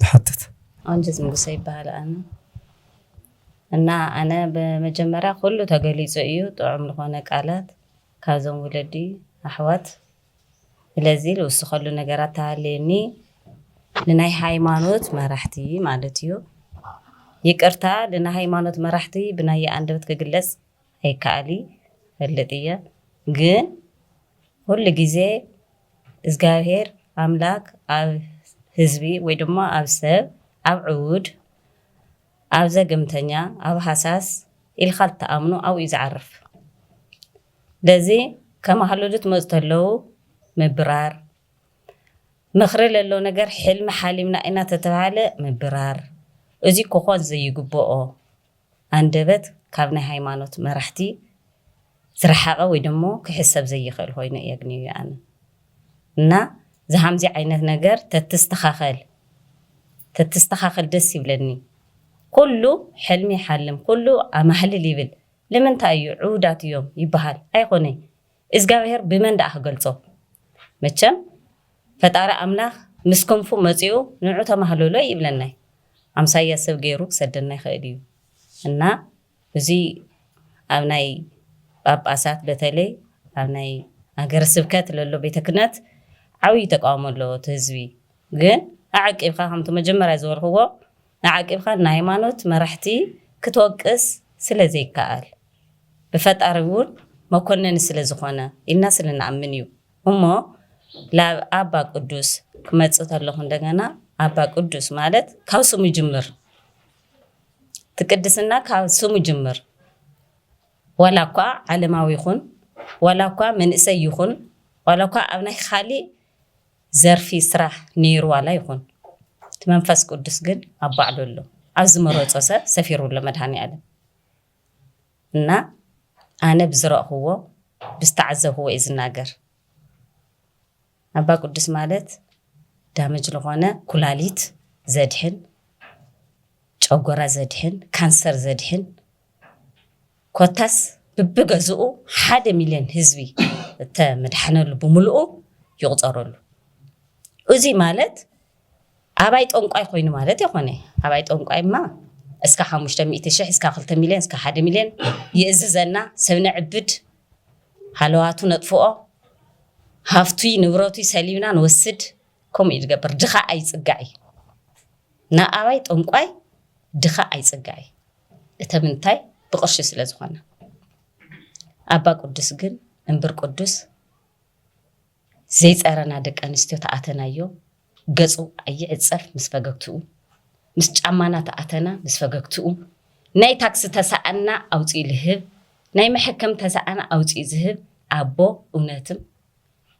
ዝሓትት። ኣንጅዝ ንጉሰ ይበሃል ኣነ እና ኣነ ብመጀመርያ ኩሉ ተገሊጹ እዩ ጥዑም ልኾነ ቃላት ካብዞም ውለዲ ኣሕዋት ስለዚ ልውስኸሉ ነገራት ተሃልየኒ ንናይ ሃይማኖት መራሕቲ ማለት እዩ ይቅርታ ልናይ ሃይማኖት መራሕቲ ብናየ ኣንደበት ክግለጽ ኣይካኣሊ ይፈልጥ እየ ግን ኩሉ ግዜ እዝጋብሄር ኣምላክ ኣብ ህዝቢ ወይ ድማ ኣብ ሰብ ኣብ ዕውድ ኣብ ዘገምተኛ ኣብ ሃሳስ ኢልካ ልትኣምኖ ኣብኡ እዩ ዝዓርፍ ለዚ ከማህልሉ ትመፁ ተለው ምብራር ምክሪ ለለው ነገር ሕልሚ ሓሊምና ኢና ተተባህለ ምብራር እዙይ ክኮን ዘይግበኦ ኣንደበት ካብ ናይ ሃይማኖት መራሕቲ ዝረሓቐ ወይ ደሞ ክሕሰብ ዘይኽእል ኾይኑ እየ ኣግንየዮ ኣነ እና ዝሃምዚ ዓይነት ነገር ተትስተኻኸል ተትስተኻኸል ደስ ይብለኒ ኩሉ ሕልሚ ይሓልም ኩሉ ኣማህልል ይብል ልምንታይ እዩ ዕውዳት እዮም ይበሃል ኣይኾነይ እዝጋብሄር ብመን ደኣ ክገልጾ መቸም ፈጣሪ ኣምላክ ምስ ክንፉ መጺኡ ንዑ ተማህለሎ እይብለናይ ኣምሳያ ሰብ ገይሩ ክሰደና ይክእል እዩ እና እዙይ ኣብ ናይ ጳጳሳት በተለይ ኣብ ናይ ሃገረ ስብከት ለሎ ቤተ ክነት ዓብይ ተቃውሞ ኣለዎ እቲ ህዝቢ ግን ኣዐቂብካ ከምቲ መጀመርያ ዝበልክዎ ንዓቂብካ ንሃይማኖት መራሕቲ ክትወቅስ ስለ ዘይከኣል ብፈጣሪ እውን መኮነኒ ስለ ዝኾነ ኢልና ስለ ንኣምን እዩ እሞ ላብ ኣባ ቅዱስ ክመጽእ ተለኹ እንደገና ኣባ ቅዱስ ማለት ካብ ስሙ ጅምር እቲ ቅድስና ካብ ስሙ ጅምር ዋላ እኳ ዓለማዊ ይኹን ዋላ እኳ መንእሰይ ይኹን ዋላ እኳ ኣብ ናይ ኻሊእ ዘርፊ ስራሕ ነይሩ ዋላ ይኹን እቲ መንፈስ ቅዱስ ግን ኣብ ባዕሉ ኣሎ ኣብ ዝመረፆ ሰብ ሰፊሩ ኣሎ መድሃኒኣለም እና ኣነ ብዝረእኽዎ ብዝተዓዘብኽዎ እየ ዝናገር ኣባ ቅዱስ ማለት ዳመጅ ዝኾነ ኩላሊት ዘድሕን ጨጎራ ዘድሕን ካንሰር ዘድሕን ኮታስ ብብገዝኡ ሓደ ሚልዮን ህዝቢ እተምድሓነሉ ብምልኡ ይቑጸረሉ። እዙይ ማለት ኣባይ ጠንቋይ ኮይኑ ማለት የኾነይ። ኣባይ ጠንቋይ እማ እስካ ሓሙሽተ ሚእቲ ሽሕ እስካ ክልተ ሚልዮን እስካ ሓደ ሚልዮን ይእዝዘና ሰብ ነዕብድ ሃለዋቱ ነጥፍኦ ሃፍቱይ ንብረቱይ ሰሊብና ንወስድ ከምኡ እዩ ዝገብር ድኻ ኣይፅጋዕ እዩ። ንኣባይ ጠንቋይ ድኻ ኣይፅጋዕ እዩ። እተምንታይ ብቅርሺ ስለ ዝኾነ ኣባ ቅዱስ ግን እምብር ቅዱስ ዘይጸረና ደቂ ኣንስትዮ ተኣተናዮ ገጹ ኣይዕጸፍ ምስ ፈገግትኡ ምስ ጫማና ተኣተና ምስ ፈገግትኡ ናይ ታክሲ ተሰኣና ኣውጽኡ ልህብ ናይ መሐከም ተሰኣና ኣውጽኡ ዝህብ ኣቦ እውነትም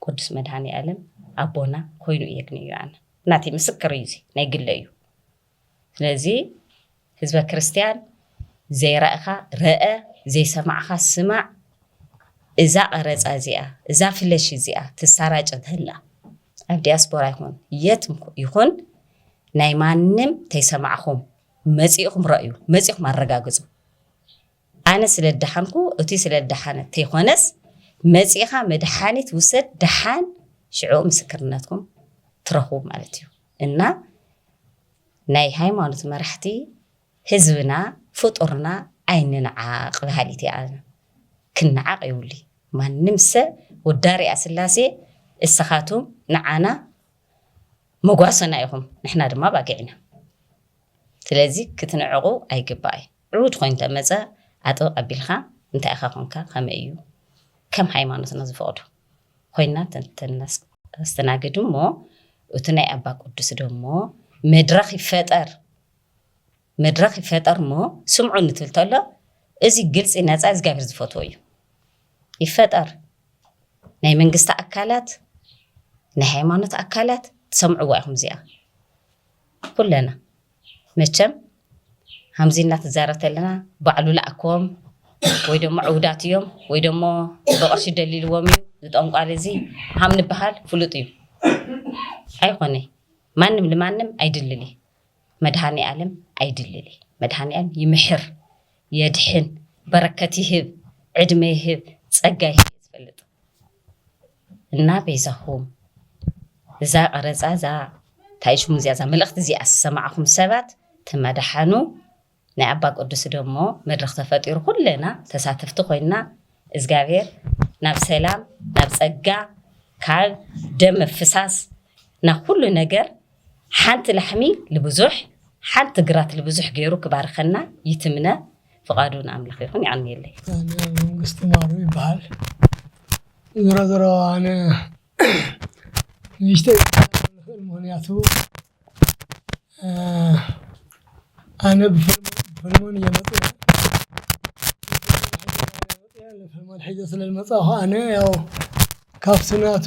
ቅዱስ መድኃኔ ዓለም ኣቦና ኮይኑ እየግንዩ ኣነ ናተይ ምስክር እዩ እዚ ናይ ግለ እዩ ስለዚ ህዝበ ክርስትያን ዘይራእኻ ረእ ዘይሰማዕኻ ስማዕ እዛ ቀረጻ እዚኣ እዛ ፍለሽ እዚኣ ትሳራጭ እንተላ ኣብ ዲያስፖራ ይኹን የት ይኹን ናይ ማንም ተይሰማዕኹም መጺእኹም ረእዩ መጺኹም ኣረጋግጹ ኣነ ስለ ደሓንኩ እቲ ስለ ደሓነ ተይኮነስ መጺኻ መድሓኒት ውሰድ ደሓን ሽዑ ምስክርነትኩም ትረኽቡ ማለት እዩ እና ናይ ሃይማኖት መራሕቲ ህዝብና ፍጡርና ኣይንንዓቅ በሃሊት እየ ኣነ ክናዓቅ የብሉይ ማንም ሰብ ውዳሪኣ ስላሴ እሰኻቱም ንዓና መጓሰና ኢኹም ንሕና ድማ ኣባጊዕ ኢና ስለዚ ክትንዕቁ ኣይግባእይ ዕውት ኮይኑ ተመፀ ኣጥብቅ ኣቢልኻ እንታይ ኢኻ ኮንካ ከመይ እዩ ከም ሃይማኖትና ዝፈቅዶ። ኮይና ተስተናግድ እሞ እቱ ናይ ኣባ ቅዱስ ደሞ መድረኽ ይፈጠር መድረኽ ይፈጠር እሞ ስምዑ ንትብል ተሎ እዚ ግልፂ ነፃ እግዚኣብሔር ዝፈትዎ እዩ ይፈጠር ናይ መንግስቲ ኣካላት ናይ ሃይማኖት ኣካላት ትሰምዕዋ ኢኹም እዚኣ ኩለና መቸም ሃምዚ ኢልና ትዛረብ ተለና ባዕሉ ላኣኮም ወይ ደሞ ዕውዳት እዮም ወይ ደሞ ብቅርሺ ደሊልዎም እዩ ዝጠንቋሊ እዚ ሃም ንባሃል ፍሉጥ እዩ ኣይኾነይ ማንም ልማንም ኣይድልሊ መድሃኒኣለም ኣይድልሊ መድሃኒኣለም ይምሕር የድሕን በረከት ይህብ ዕድመ ይህብ ፀጋ ይህብ ዝፈልጥ እና በይዛኹም እዛ ቀረፃ እዛ ታይ ሽሙ እዚኣ እዛ መልእኽቲ እዚኣ ዝሰማዕኹም ሰባት ተመዳሓኑ ናይ ኣባ ቅዱስ ደሞ መድረኽ ተፈጢሩ ኩለና ተሳተፍቲ ኮይና እግዚኣብሔር ናብ ሰላም ናብ ፀጋ ካብ ደም ምፍሳስ ናብ ኩሉ ነገር ሓንቲ ላሕሚ ልብዙሕ ሓንቲ ግራት ልብዙሕ ገይሩ ክባርኸና ይትምነ ፍቃዱ ንኣምላኽ ይኹን ይቀንየለይ። መንግስቲ ማሩ ይበሃል ዝሮ ዝሮ ኣነ ንእሽተይ ንኽእል ምክንያቱ ኣነ ብፈልሞን እየ መፅያ ንፈልሞን ሒዘ ስለዝመፃኹ ኣነ ያው ካብ ስናቱ